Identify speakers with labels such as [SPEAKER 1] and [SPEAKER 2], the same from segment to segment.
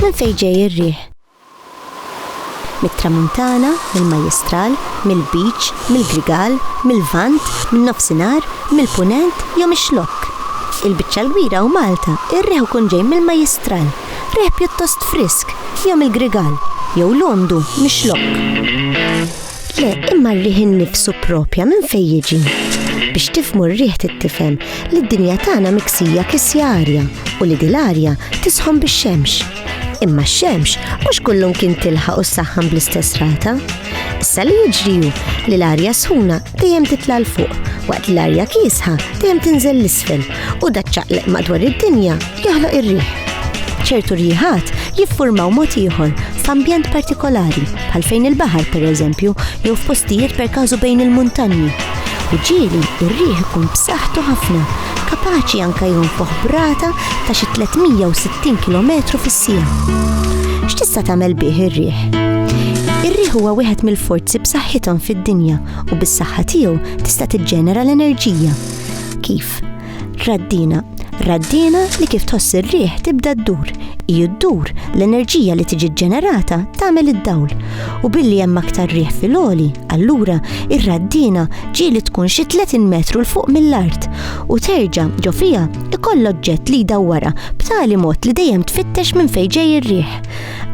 [SPEAKER 1] Minn fejn ġej ir-riħ? Mit-Tramuntana, mill-Majjistral, mill-Lbiċ, mill-Grigal, mil-Lvant, min-Nofsinhar, mill-Punent jew mix-Xlokk? Il-biċċa l-kbira u Malta r-riħ ikun ġej mill-Majjistral, riħ pjuttost frisk, jew mill-Grigal, jew l-għondu, mix-Xlokk. Le, imma r-riħ innifsu propja minn fejn jiġi. Biex tifmu r-riħ tittifhem li d-dinja tagħna miksija kisja arja u li dil-arja tisħon bix-xemx. Imma x-xemx mhux kullum kien tilħaq u ssaħħan bl-istess rata. Issa li jiġri hu li l-arja sħuna dejjem titla' l fuq waqt li l-arja kiesħa dejjem tinżel l-isfel u daċċaqleq madwar id-dinja jaħloq ir-riħ. Ċertu riħat jiffurmaw mod ieħor f'ambjent partikolari, bħal fejn il-baħar pereżempju, jew f'postijiet per każu bejn il-muntanji. U ġieli r-riħ ikun b'saħħtu ħafna, kapaċi anke jonfoħ brata ta' xi 360 km fis-siegħa. X'tista' tagħmel bih ir-riħ? Ir-riħ huwa wieħed mill-forzi b'saħħithom fid-dinja u bis-saħħa tiegħu tista' tiġġenera l-enerġija. Kif? Raddina. Raddina li kif tħoss ir-riħ tibda ddur. Iju ddur l-enerġija li tiġi ġenerata tagħmel id-dawl. U billi hemm aktar riħ fil-oli, allura ir-raddina ġieli tkun xi 30 metru l fuq mill-art u terġa' ġo fiha ikoll oġġett li jdawwara b'tali mod li dejjem tfittex minn fejn ġej ir-riħ.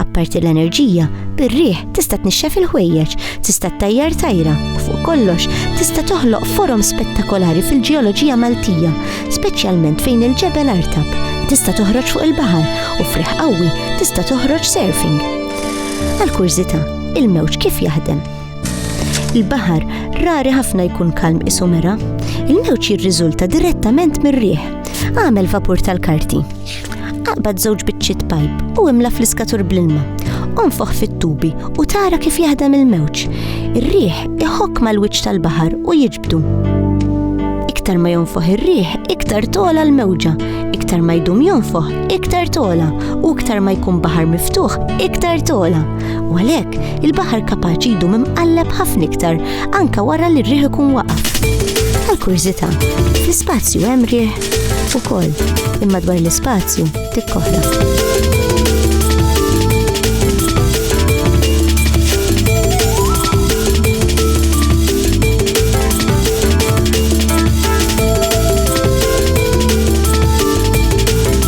[SPEAKER 1] Apparti l-enerġija, bir-riħ tista' tnixxef il-ħwejjeġ, tista' ttajjar tajra u fuq kollox tista' toħloq forom spettakolari fil-ġeoloġija Maltija, speċjalment fejn il-ġebel artab, tista' toħroġ fuq il-baħar u f'riħ qawwi tista' toħroġ surfing. Għall-kurżità, il-mewġ kif jaħdem? Il-baħar rari ħafna jkun kalm isu mera. Il-mewġ jirriżulta direttament mir-riħ. Għamel vapur tal-karti. Aqbad żewġ biċċiet pajp u imla fl-iskatur bl-ilma. Onfoħ fit-tubi u tara kif jaħdem il-mewġ. Ir-riħ iħokk mal-wiċċ tal-baħar u jiġbdu. Iktar ma jonfoħ ir-riħ, iktar tola l-mewġa. Iktar ma jdum jonfoħ, iktar tola. U iktar ma jkun baħar miftuħ, iktar tola. u għalhekk il-baħar kapaċi jdum imqalleb ħafna iktar anke wara li r-riħ ikun waqaf. Għal kurżità, l-ispazju hemm riħ ukoll, imma dwar l-ispazju tikkoħla.